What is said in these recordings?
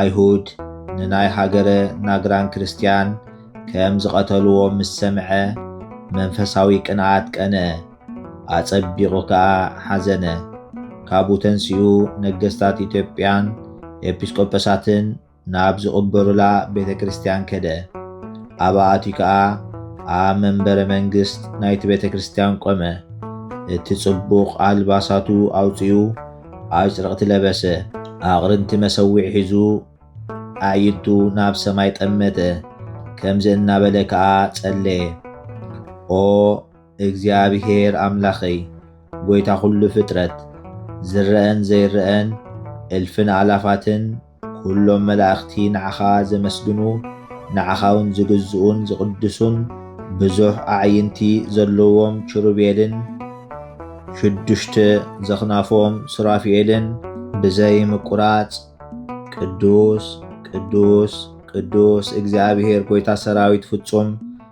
ኣይሁድ ንናይ ሃገረ ናግራን ክርስትያን ከም ዝቐተልዎም ምስ ሰምዐ፣ መንፈሳዊ ቅንኣት ቀንኣ፣ ኣጸቢቑ ከኣ ሓዘነ። ካብኡ ተንሲኡ ነገስታት ኢትዮጵያን ኤጲስቆጶሳትን ናብ ዝቕበሩላ ቤተ ክርስትያን ከደ። ኣብኣ ኣትዩ ከኣ ኣብ መንበረ መንግስት ናይቲ ቤተ ክርስትያን ቆመ። እቲ ጽቡቕ ኣልባሳቱ ኣውጺኡ፣ ኣጭርቕቲ ለበሰ፣ ኣቕርንቲ መሰውዒ ሒዙ ኣዕይንቱ ናብ ሰማይ ጠመተ፣ ከምዚ እናበለ ከኣ ጸለየ፣ ኦ እግዚኣብሔር ኣምላኸይ፣ ጐይታ ዅሉ ፍጥረት፣ ዝረኣን ዘይረኣን፣ እልፍን ኣእላፋትን ኵሎም መላእኽቲ ንዓኻ ዘመስግኑ፣ ንዓኻውን ዝግዝኡን ዝቕድሱን፣ ብዙሕ ኣዕይንቲ ዘለዎም ኪሩቤልን ሽዱሽተ ዘኽናፎም ሱራፊኤልን፣ ብዘይ ምቍራጽ ቅዱስ፣ ቅዱስ፣ ቅዱስ፣ እግዚኣብሄር ጐይታ ሰራዊት ፍጹም፣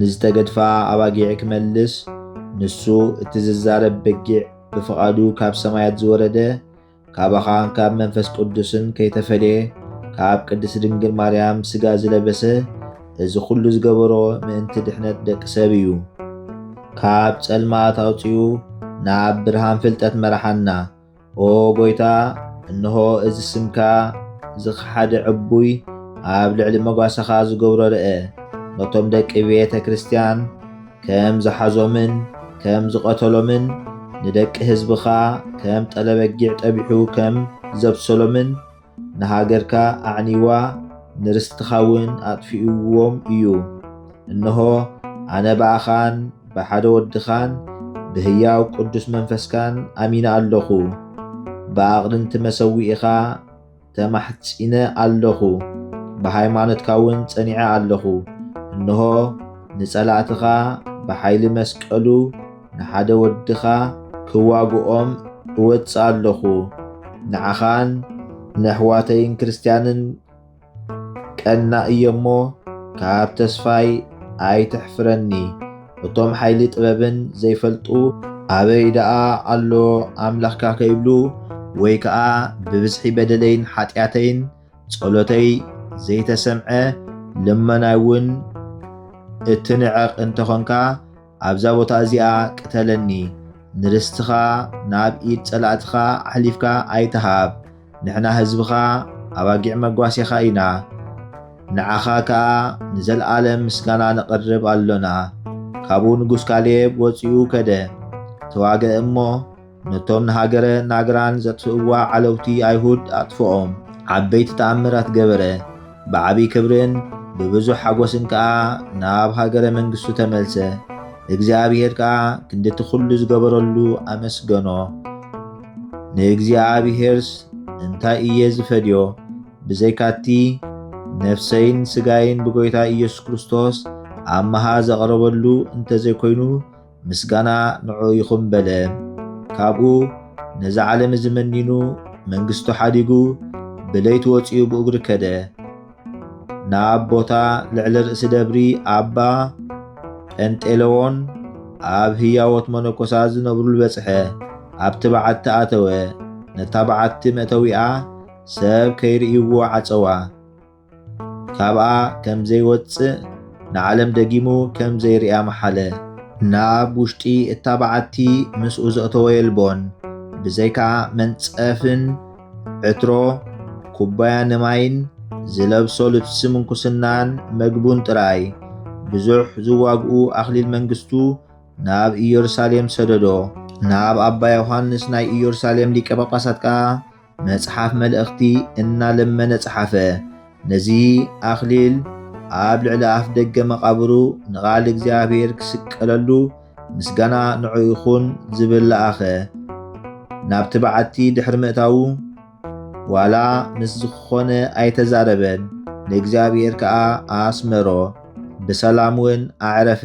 ንዝተገድፋ ኣባጊዕ ክመልስ ንሱ እቲ ዝዛረብ በጊዕ ብፍቓዱ ካብ ሰማያት ዝወረደ ካባኻን ካብ መንፈስ ቅዱስን ከይተፈልየ ካብ ቅድስት ድንግል ማርያም ስጋ ዝለበሰ እዚ ኩሉ ዝገበሮ ምእንቲ ድሕነት ደቂ ሰብ እዩ። ካብ ጸልማት ኣውጺኡ ናብ ብርሃን ፍልጠት መራሓና። ኦ ጐይታ፣ እንሆ እዚ ስምካ ዝኸሓደ ዕቡይ ኣብ ልዕሊ መጓሰኻ ዝገብሮ ርእ፣ ነቶም ደቂ ቤተ ክርስቲያን ከም ዝሓዞምን ከም ዝቐተሎምን፣ ንደቂ ህዝብኻ ከም ጠለ በጊዕ ጠቢሑ ከም ዘብሰሎምን፣ ንሃገርካ ኣዕኒዋ ንርስትኻውን ኣጥፊኡዎም እዩ። እንሆ፣ ኣነ ብኣኻን ብሓደ ወድኻን ብህያው ቅዱስ መንፈስካን ኣሚነ ኣሎኹ፣ ብኣቕርንቲ መሰውኢኻ ተማሕጺነ ኣሎኹ፣ ብሃይማኖትካውን ጸኒዐ ኣሎኹ። እንሆ፣ ንጸላእትኻ ብሓይሊ መስቀሉ፣ ንሓደ ወድኻ ክዋግኦም እወጽእ ኣሎኹ፣ ንዓኻን ንኣሕዋተይን ክርስትያንን ቀናእ እየ እሞ፣ ካብ ተስፋይ ኣይተሕፍረኒ። እቶም ሓይሊ ጥበብን ዘይፈልጡ፣ ኣበይ ደኣ ኣሎ ኣምላኽካ ከይብሉ፣ ወይ ከኣ ብብዝሒ በደለይን ሓጢኣተይን ጸሎተይ ዘይተሰምዐ፣ ልመናይውን እትንዕቕ እንተ ኾንካ፣ ኣብዛ ቦታ እዚኣ ቅተለኒ፣ ንርስትኻ ናብ ኢድ ጸላእትኻ ኣሕሊፍካ ኣይትሃብ፣ ንሕና ህዝብኻ ኣባጊዕ መጓሴኻ ኢና፣ ንዓኻ ከኣ ንዘልኣለም ምስጋና ነቕርብ ኣሎና። ካብኡ ንጉስ ካሌብ ወጺኡ ከደ፣ ተዋግአ እሞ፣ ነቶም ንሃገረ ናግራን ዘጥፍእዋ ዓለውቲ ኣይሁድ ኣጥፍኦም፣ ዓበይቲ ተኣምራት ገበረ፣ ብዓብዪ ክብርን ብብዙሕ ሓጐስን ከኣ ናብ ሃገረ መንግስቱ ተመልሰ፣ እግዚኣብሄር ከኣ ክንዲ እቲ ዅሉ ዝገበረሉ ኣመስገኖ። ንእግዚኣብሄርስ እንታይ እየ ዝፈድዮ? ብዘይካ እቲ ነፍሰይን ስጋይን ብጐይታ ኢየሱስ ክርስቶስ ኣብ መሃ ዘቕረበሉ እንተ ዘይኰይኑ፣ ምስጋና ንዑኡ ይኹን በለ። ካብኡ ነዛ ዓለም እዚ መኒኑ መንግስቱ ሓዲጉ ብለይቲ ወጺኡ ብእግሩ ከደ። ናብ ቦታ ልዕሊ ርእሲ ደብሪ ኣባ ጰንጤለዎን ኣብ ህያዎት መነኮሳት ዝነብሩሉ በጽሐ። ኣብቲ በዓቲ ኣተወ። ነታ በዓቲ መእተዊኣ ሰብ ከይርእይዎ ዓጸዋ። ካብኣ ከም ዘይወጽእ ንዓለም ደጊሙ ከም ዘይርእያ መሓለ። ናብ ውሽጢ እታ በዓቲ ምስኡ ዘእተወ የልቦን፣ ብዘይካ መንጸፍን ዕትሮ ኩባያ ንማይን ዝለብሶ ልብሲ ምንኩስናን መግቡን ጥራይ። ብዙሕ ዝዋግኡ ኣኽሊል መንግስቱ ናብ ኢየሩሳሌም ሰደዶ። ናብ ኣባ ዮሓንስ ናይ ኢየሩሳሌም ሊቀ ጳጳሳት ከኣ መጽሓፍ መልእኽቲ እናለመነ ጸሓፈ። ነዚ ኣኽሊል ኣብ ልዕሊ ኣፍ ደገ መቓብሩ ንቓል እግዚኣብሔር ክስቀለሉ ምስጋና ንዑ ይኹን ዝብል ለኣኸ። ናብቲ በዓቲ ድሕሪ ምእታዉ ዋላ ምስ ዝኾነ ኣይተዛረበን፣ ንእግዚኣብሔር ከኣ ኣስመሮ። ብሰላም እውን ኣዕረፈ።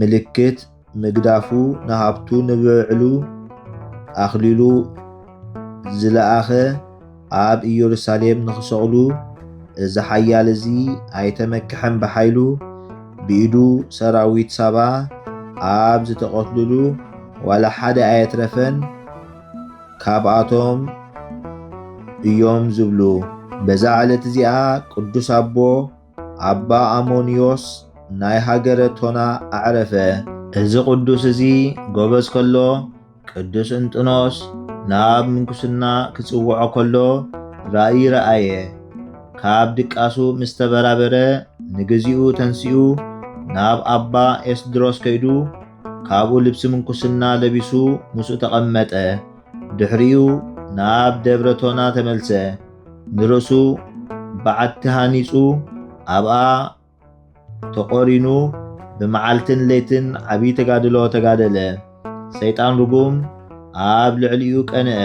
ምልክት ምግዳፉ ንሃብቱ ንብዕሉ ኣኽሊሉ ዝለኣኸ ኣብ ኢየሩሳሌም ንኽሰቕሉ እዚ ሓያል እዚ ኣይተመክሐን ብሓይሉ ብኢዱ ሰራዊት ሳባ ኣብ ዝተቐትሉሉ ዋላ ሓደ ኣየትረፈን ካብኣቶም እዮም ዝብሉ በዛ ዕለት እዚኣ ቅዱስ ኣቦ ኣባ ኣሞንዮስ ናይ ሃገረ ቶና ኣዕረፈ። እዚ ቅዱስ እዚ ጎበዝ ከሎ ቅዱስ እንጥኖስ ናብ ምንኩስና ክጽውዖ ከሎ ራእይ ረኣየ። ካብ ድቃሱ ምስ ተበራበረ ንግዚኡ ተንሲኡ ናብ ኣባ ኤስድሮስ ከይዱ ካብኡ ልብሲ ምንኩስና ለቢሱ ምስኡ ተቐመጠ። ድሕሪኡ ናብ ደብረ ቶና ተመልሰ። ንርእሱ በዓቲ ሃኒጹ ኣብኣ ተቖሪኑ ብመዓልትን ለይትን ዓብዪ ተጋድሎ ተጋደለ። ሰይጣን ርጉም ኣብ ልዕሊኡ ቀንዐ።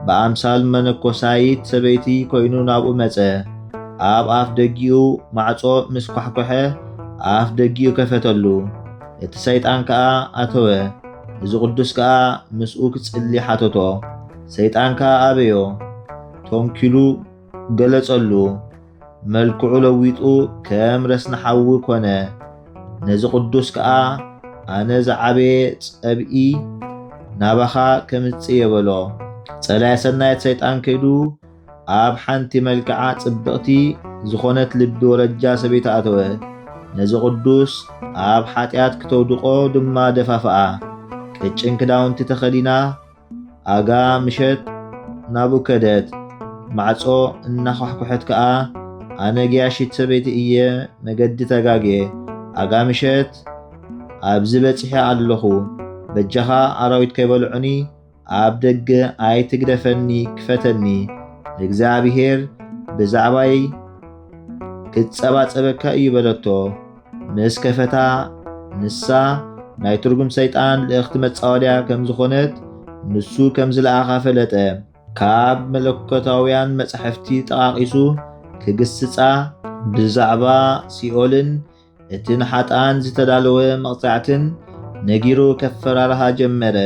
ብኣምሳል መነኮሳይት ሰበይቲ ኮይኑ ናብኡ መጸ። ኣብ ኣፍ ደጊኡ ማዕጾ ምስ ኳሕኮሐ ኣፍ ደጊኡ ከፈተሉ። እቲ ሰይጣን ከኣ ኣተወ። እዚ ቅዱስ ከኣ ምስኡ ክጽሊ ሓተቶ። ሰይጣን ከኣ ኣበዮ፣ ቶንኪሉ ገለጸሉ፣ መልክዑ ለዊጡ ከም ረስኒ ሓዊ ኮነ፣ ነዚ ቅዱስ ከኣ ኣነ ዝዓበየ ጸብኢ ናባኻ ከምጽእየ በሎ። ጸላኢ ሰናየት ሰይጣን ከይዱ ኣብ ሓንቲ መልክዓ ጽብቕቲ ዝኾነት ልቢ ወረጃ ሰበይቲ ኣተወ፣ ነዚ ቅዱስ ኣብ ሓጢኣት ክተውድቆ ድማ ደፋፍኣ፣ ቅጭን ክዳውንቲ ተኸዲና፣ ኣጋ ምሸት ናብኡ ከደት። ማዕጾ እናዃሕኵሐት ከኣ ኣነ ገያሺት ሰበይቲ እየ መገዲ ተጋግየ። ኣጋ ምሸት ኣብዚ በጺሐ ኣለኹ በጃኻ ኣራዊት ከይበልዑኒ ኣብ ደገ ኣይትግደፈኒ ክፈተኒ እግዚኣብሄር ብዛዕባይ ክጸባጸበካ እዩ በለቶ። ምስ ከፈታ ንሳ ናይ ትርጉም ሰይጣን ልእኽቲ መጻወድያ ከም ዝኾነት ንሱ ከም ዝለኣኻ ፈለጠ። ካብ መለኮታውያን መጻሕፍቲ ጠቓቒሱ ክግስጻ ብዛዕባ ሲኦልን እቲ ንሓጥኣን ዝተዳለወ መቕጻዕትን ነጊሩ ከፈራርሃ ጀመረ።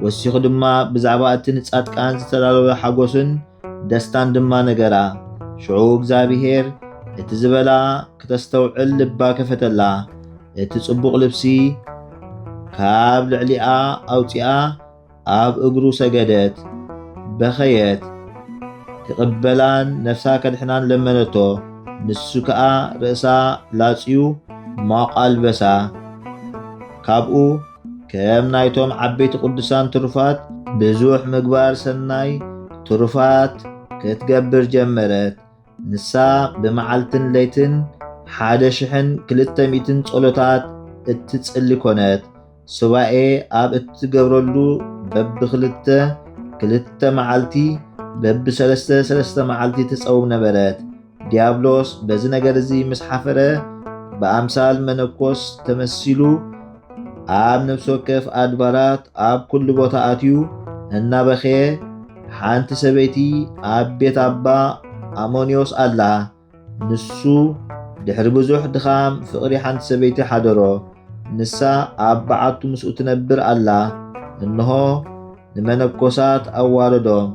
ወሲኹ ድማ ብዛዕባ እቲ ንጻድቃን ዝተዳለወ ሓጎስን ደስታን ድማ ነገራ። ሽዑ እግዚኣብሔር እቲ ዝበላ ክተስተውዕል ልባ ከፈተላ። እቲ ጽቡቕ ልብሲ ካብ ልዕሊኣ ኣውፂኣ ኣብ እግሩ ሰገደት፣ በኸየት፣ ክቕበላን ነፍሳ ከድሕናን ለመነቶ። ንሱ ከዓ ርእሳ ላፅዩ ማቋ ኣልበሳ ካብኡ ከም ናይቶም ዓበይቲ ቅዱሳን ትሩፋት ብዙሕ ምግባር ሰናይ ትሩፋት ክትገብር ጀመረት። ንሳ ብመዓልትን ለይትን ሓደ ሽሕን ክልተ ሚእትን ጸሎታት እትጽሊ ኮነት። ሱባኤ ኣብ እትገብረሉ በብክልተ ክልተ መዓልቲ በብሰለስተ ሰለስተ መዓልቲ ትጸውም ነበረት። ዲያብሎስ በዚ ነገር እዚ ምስ ሓፈረ ብኣምሳል መነኮስ ተመሲሉ ኣብ ነፍሲ ወከፍ ኣድባራት ኣብ ኩሉ ቦታ ኣትዩ እናበኸየ ሓንቲ ሰበይቲ ኣብ ቤት ኣባ ኣሞንዮስ ኣላ። ንሱ ድሕሪ ብዙሕ ድኻም ፍቕሪ ሓንቲ ሰበይቲ ሓደሮ። ንሳ ኣብ በዓቱ ምስኡ ትነብር ኣላ። እንሆ ንመነኮሳት ኣዋረዶም።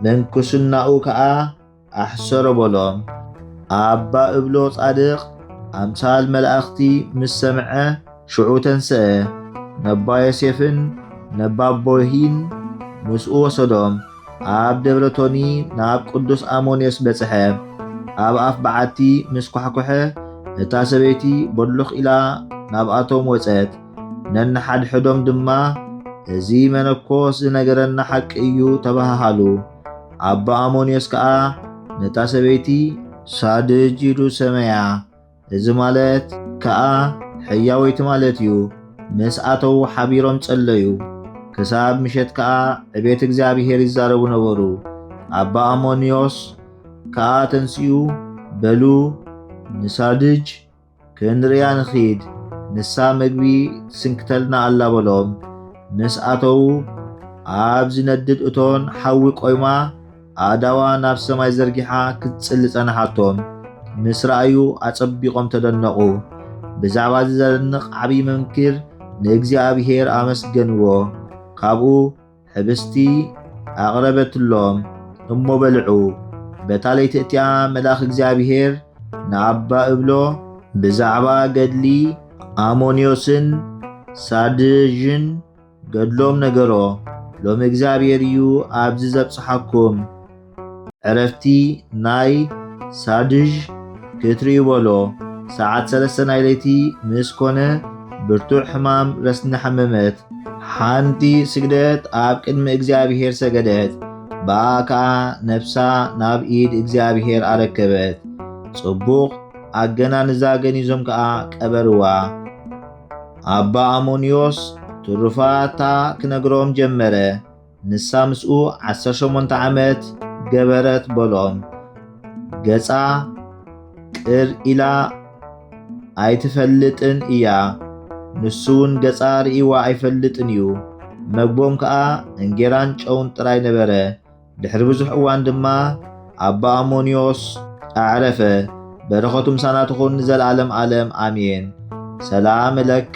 ምንኩስናኡ ከኣ ኣሕሰሮ በሎም። ኣባ እብሎ ጻድቅ ኣምሳል መላእክቲ ምስ ሰምዐ ሽዑ ተንስአ፣ ነባ ዮሴፍን ነባ ቦይሂን ምስኡ ወሰዶም፣ ኣብ ደብረ ቶኒ ናብ ቅዱስ ኣሞንዮስ በጽሐ። ኣብ ኣፍ በዓቲ ምስ ኳሕኮሐ እታ ሰበይቲ ቦሎኽ ኢላ ናብኣቶም ወጸት። ነንሓድሕዶም ድማ እዚ መነኮስ ዝነገረና ሓቂ እዩ ተባሃሃሉ። ኣባ ኣሞንዮስ ከዓ ነታ ሰበይቲ ሳድጅ ኢሉ ሰመያ። እዚ ማለት ከዓ ሕያወይቲ ማለት እዩ። ምስ ኣተዉ ሓቢሮም ጸለዩ። ክሳብ ምሸት ከዓ ዕቤት እግዚኣብሔር ይዛረቡ ነበሩ። ኣባ ኣሞንዮስ ከዓ ተንስኡ በሉ ንሳድጅ ክንርያ ንኺድ፣ ንሳ ምግቢ ትስንክተልና ኣላ በሎም። ምስ ኣተዉ፣ ኣብ ዚነድድ እቶን ሓዊ ቈይማ፣ ኣእዳዋ ናብ ሰማይ ዘርጊሓ ክትጽሊ ጸንሓቶም። ምስ ረኣዩ ኣጸቢቖም ተደነቑ። ብዛዕባ እዚ ዘደንቕ ዓብዪ መምኪር ንእግዚኣብሄር ኣመስገንዎ። ካብኡ፣ ኅብስቲ ኣቕረበትሎም እሞ በልዑ። በታ ለይቲ እቲኣ መልኣኽ እግዚኣብሔር ንኣባ እብሎ ብዛዕባ ገድሊ ኣሞንዮስን ሳድዥን ገድሎም ነገሮ። ሎሚ እግዚኣብሔር እዩ ኣብዚ ዘብጽሓኩም። ዕረፍቲ ናይ ሳድዥ ክትርእዩ በሎ ሰዓት ሰለስተ ናይ ለይቲ ምስ ኮነ ብርቱዕ ሕማም ረስኒ ሓመመት። ሓንቲ ስግደት ኣብ ቅድሚ እግዚኣብሔር ሰገደት፣ ብኣ ከኣ ነፍሳ ናብ ኢድ እግዚኣብሔር ኣረከበት። ጽቡቕ ኣገናንዛ ገኒዞም ከኣ ቀበርዋ። ኣባ ኣሞንዮስ ትሩፋታ ክነግሮም ጀመረ። ንሳ ምስኡ ዓሰርተ ሸሞንተ ዓመት ገበረት በሎም። ገጻ ቅር ኢላ ኣይትፈልጥን እያ። ንሱ እውን ገጻ ርእይዋ ኣይፈልጥን እዩ። መግቦም ከኣ እንጌራን ጨውን ጥራይ ነበረ። ድሕሪ ብዙሕ እዋን ድማ ኣባ ኣሞንዮስ ኣዕረፈ። በረኸቱ ምሳና ትኹን ንዘለዓለም ዓለም ኣሜን። ሰላም ለከ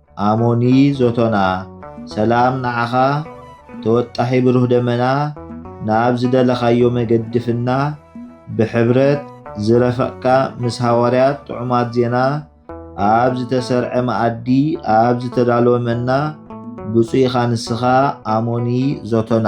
ኣሞኒ ዞቶና ሰላም ንዓኻ ተወጣሒ ብሩህ ደመና ናብ ዝደለኻዮ መገዲ ፍና ብሕብረት ዝረፈቅካ ምስ ሃዋርያት ጥዑማት ዜና ኣብ ዝተሰርዐ መኣዲ ኣብ ዝተዳለወ መና ብፁይ ኢኻ ንስኻ ኣሞኒ ዞቶና።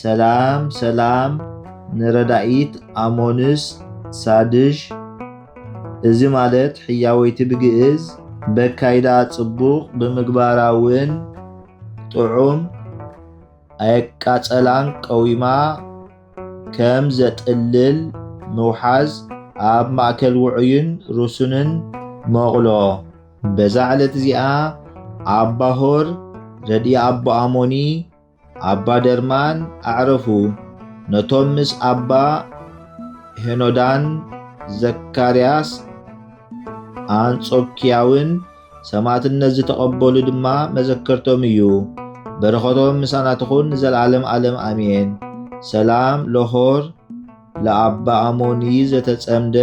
ሰላም ሰላም ንረዳኢት ኣሞንስ ሳድሽ እዚ ማለት ሕያወይቲ ብግእዝ በካይዳ ጽቡቕ ብምግባራ ውን ጥዑም ኣየቃጸላን ቀዊማ ከም ዘጥልል ምውሓዝ ኣብ ማእከል ውዑይን ርሱንን መቑሎ በዛ ዕለት እዚኣ ኣባሆር ረድኢ ኣቦ ኣሞኒ ኣባ ደርማን ኣዕረፉ። ነቶም ምስ ኣባ ሄኖዳን ዘካርያስ ኣንጾኪያውን ሰማዕትነት ዝተቐበሉ ድማ መዘከርቶም እዩ። በረኸቶም ምሳና ትኹን ንዘለዓለም ዓለም ኣሜን። ሰላም ለሆር ለኣባ ኣሞኒ ዘተጸምደ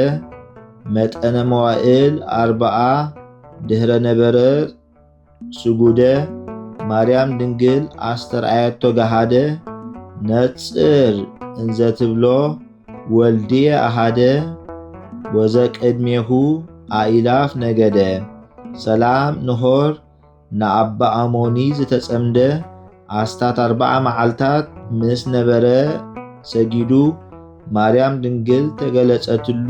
መጠነ መዋእል ኣርባዓ ድህረ ነበረ ስጉደ ማርያም ድንግል ኣስተርኣየቶ ገሃደ ነጽር እንዘ ትብሎ ወልድየ ኣሃደ ወዘቅድሜሁ ኣኢላፍ ነገደ ሰላም ንሆር ንኣባ ኣሞኒ ዝተጸምደ ኣስታት ኣርባዓ መዓልታት ምስ ነበረ ሰጊዱ ማርያም ድንግል ተገለጸትሉ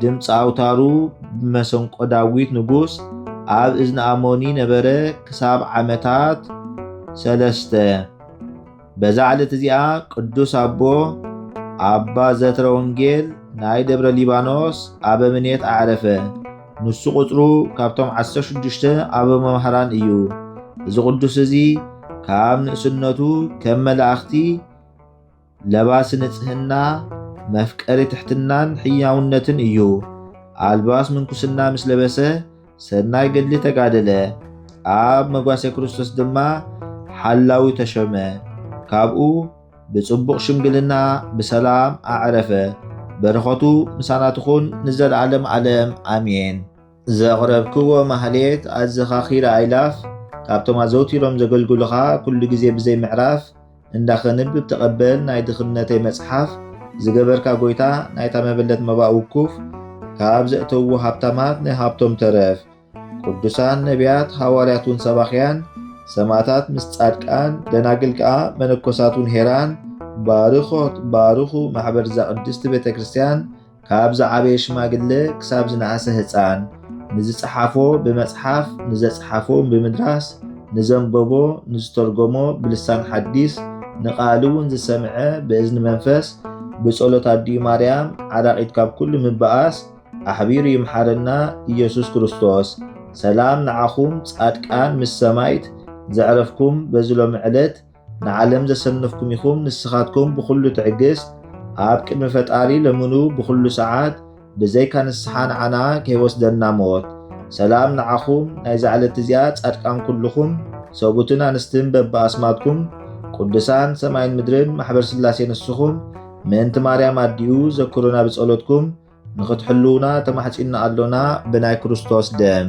ድምፂ ኣውታሩ ብመሰንቆ ዳዊት ንጉስ ኣብ እዝኒ ኣሞኒ ነበረ ክሳብ ዓመታት ሰለስተ። በዛ ዕለት እዚኣ ቅዱስ ኣቦ ኣባ ዘትረ ወንጌል ናይ ደብረ ሊባኖስ ኣበምኔት ኣዕረፈ። ንሱ ቁጽሩ ካብቶም ዓሰርተ ሽዱሽተ ኣበ መምህራን እዩ። እዚ ቅዱስ እዚ ካብ ንእስነቱ ከም መላእኽቲ ለባሲ ንጽህና፣ መፍቀሪ ትሕትናን ሕያውነትን እዩ። ኣልባስ ምንኩስና ምስ ለበሰ ሰናይ ገድሊ ተጋደለ፣ ኣብ መጓሰ ክርስቶስ ድማ ሓላዊ ተሾመ። ካብኡ ብጽቡቕ ሽምግልና ብሰላም ኣዕረፈ። በረኸቱ ምሳና ትኹን ንዘለዓለም ዓለም ኣሜን። ዘቕረብክዎ ማህሌት ኣዘኻኺረ ኣይላፍ ካብቶም ኣዘውቲሮም ዘገልግሉኻ ኩሉ ግዜ ብዘይ ምዕራፍ እንዳ ከንብብ ተቐበል ናይ ድኽነተይ መጽሓፍ ዝገበርካ ጎይታ ናይታ መበለት መባእ ውኩፍ ካብ ዘእተውዎ ሃብታማት ናይ ሃብቶም ተረፍ ቅዱሳን ነቢያት ሃዋርያት ውን ሰባኽያን ሰማእታት ምስ ጻድቃን ደናግል ከኣ መነኮሳት ውን ሄራን ባርኾት ባርኹ ማሕበር ዛቅድስቲ ቤተክርስትያን ካብ ዝዓበየ ሽማግለ ክሳብ ዝነኣሰ ህፃን ንዝፀሓፎ ብመፅሓፍ ንዘፅሓፎ ብምድራስ ንዘንበቦ ንዝተርጎሞ ብልሳን ሓዲስ ንቃል እውን ዝሰምዐ ብእዝኒ መንፈስ ብጸሎት ኣዲኡ ማርያም ዓራቂት ካብ ኩሉ ምባኣስ ኣሕቢሩ ይምሓረና ኢየሱስ ክርስቶስ። ሰላም ንዓኹም ጻድቃን ምስ ሰማይት ዘዕረፍኩም በዚ ሎሚ ዕለት ንዓለም ዘሰነፍኩም ኢኹም ንስኻትኩም ብኹሉ ትዕግስት ኣብ ቅድሚ ፈጣሪ ለምኑ ብኹሉ ሰዓት ብዘይካ ንስሓ ንዓና ከይወስደና ሞት። ሰላም ንዓኹም ናይዛ ዕለት እዚኣ ጻድቃን ኩሉኹም ሰቡትን ኣንስትን በብኣስማትኩም ቁዱሳን ሰማይን ምድርን ማሕበር ስላሴ ንስኹም ምእንቲ ማርያም ኣዲኡ ዘክሩና ብጸሎትኩም ንኽትሕልዉና ተማሕጺንና ኣሎና ብናይ ክርስቶስ ደም።